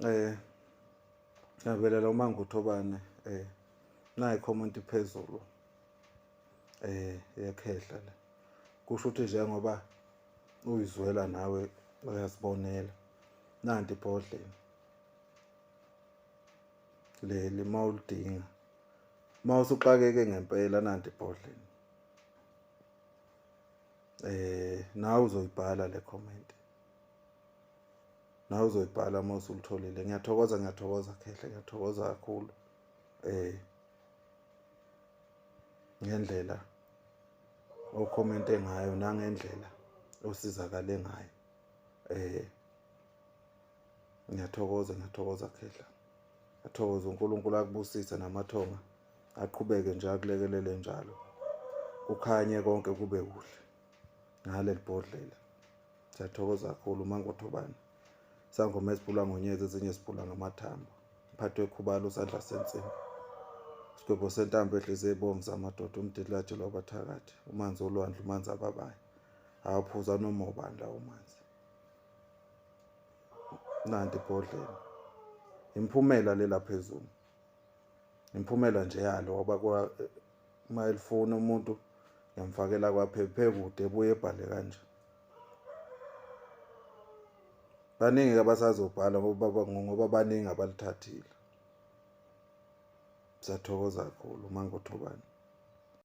eh ngabelela uma nguthobane eh nayi comment phezulu eh yakhehla la kusho ukuthi njengoba uyizwela nawe uyazibonela nanti ibhodlela leli mawulidinga mawusuxakeke ngempela nanti ibhodlela eh nawe uzoyibhala le comment nawe uzoyibhala uma usulitholile ngiyathokoza ngiyathokoza khehle ngiyathokoza kakhulu eh ngendlela okhomente ngayo nangendlela osizakale ngayo eh ngiyathokoza ngiyathokoza khehla athokoze uNkulunkulu akubusise namathonga aqhubeke nje akulekelele njalo kukhanye konke kube kuhle ngaleli bhodlela Siyathokoza kakhulu Mangothobane. Sangoma esibhulwa ngonyezi ezinye esibhulwa ngamathambo. Mphathi wekhubalo sandla sensimbi. Sigwebo sentambo ehlise ibomvu zamadoda umdilaje lwabathakathi. Umanzi olwandle umanzi ababayo. Awuphuza noma ubani lawo manzi. Nanti ibhodlela. Imphumela lela phezulu. Imphumela nje yalo waba uma elifuna umuntu ngiyamfakela kwaphephe kude ebuye ebhale kanje baningi abasazobhala ngoba ngoba baningi abalithathile sathokoza kakhulu mangothobani